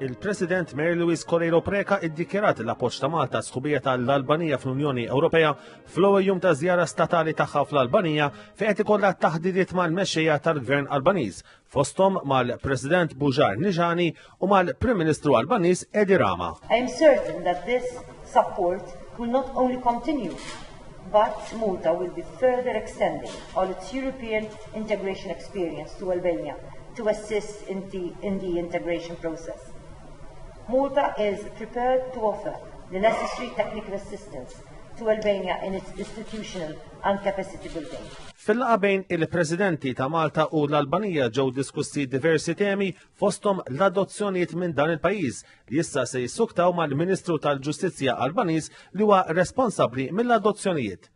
Il-President Mary Louise Correiro Preca iddikjerat l-appoġġ ta' Malta sħubija tal-Albanija fl-Unjoni Ewropea fl-ewwel jum ta' żjara statali tagħha fl-Albanija fejn qed ikollha taħdidiet mal-mexxejja tal-Gvern Albaniż fosthom mal-President Bujar Nijani u mal-Prim Ministru Albaniż Edi Rama. I am certain that this support will not only continue but Malta will be further extending on its European integration experience to Albania to assist in the, in the integration process. Malta is prepared to offer the necessary technical assistance to Albania in its institutional and capacity building. Fil-laqa bejn il-Presidenti ta' Malta u l-Albanija ġew diskussi diversi temi fosthom l-adozzjonijiet minn dan il-pajjiż, li issa se jissuktaw mal-Ministru tal-Ġustizzja Albaniż li huwa responsabbli mill-adozzjonijiet.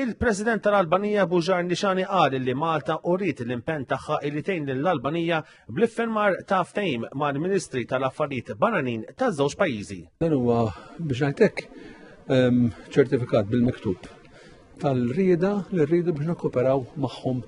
Il-President tal-Albanija Buġar Nixani qal li Malta uriet l-impenn tagħha li tgħin lill-Albanija bl-iffirmar ta' ftehim mal-Ministri tal-Affarijiet Barranin taż-żewġ pajjiżi. Dan huwa biex ngħidlek ehm, ċertifikat bil-miktub tal-rieda li rridu biex nikkoperaw magħhom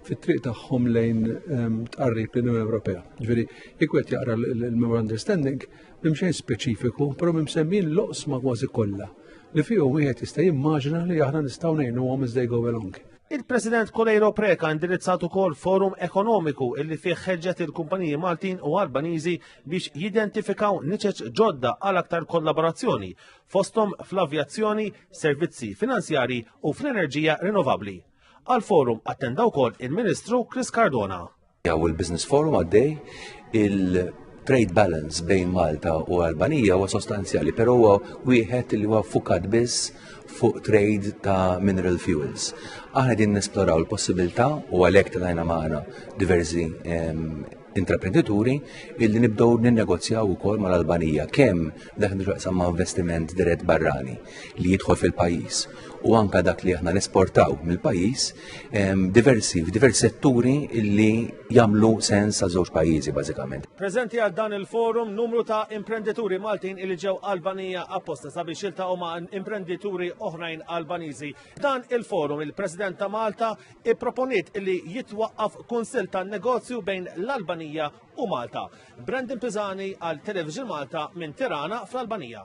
fit-triq tagħhom lejn ehm, tqarrib l-Unjoni Ewropea. Ġifieri, jekk qed jaqra l-Memorandum Understanding, mimxejn speċifiku, però msemmin l-oqsma kważi kollha li fihom wieħed jista' jimmaġina li aħna nistgħu ngħinuhom iżda jgħu along. Il-President Kolejro Preka indirizzat ukoll forum ekonomiku illi fih ħeġġet il-kumpaniji Maltin u Albaniżi biex jidentifikaw niċeċ ġodda għal aktar kollaborazzjoni fosthom fl-avjazzjoni, servizzi finanzjarji u fl-enerġija rinnovabbli. Għal forum attenda wkoll il-Ministru Chris Cardona. Jaw il-Business Forum għaddej il-trade balance bejn Malta u Albanija huwa sostanzjali, però huwa wieħed li huwa fukat biss fuq trade ta' mineral fuels. Aħna din nesploraw l possibilità u għalhekk tajna magħna diversi intraprendituri illi nibdew ninnegozjaw ukoll mal-Albanija kemm dak nixaqsam ma' investiment dirett barrani li jidħol fil-pajjiż u anka dak li aħna nesportaw mill-pajjiż diversi f'diversi setturi illi jagħmlu sens sa' żewġ pajjiżi bażikament. Preżenti għal dan il-forum numru ta' imprendituri Maltin illi ġew Albanija apposta sabiex jiltaqgħu ma' imprendituri oħrajn Albaniżi. Dan il-forum il-President ta' Malta ipproponiet li jitwaqqaf kunsill tan-negozju bejn l-Albanija u Malta. Brandon Pisani għal Television Malta minn Tirana fl-Albanija.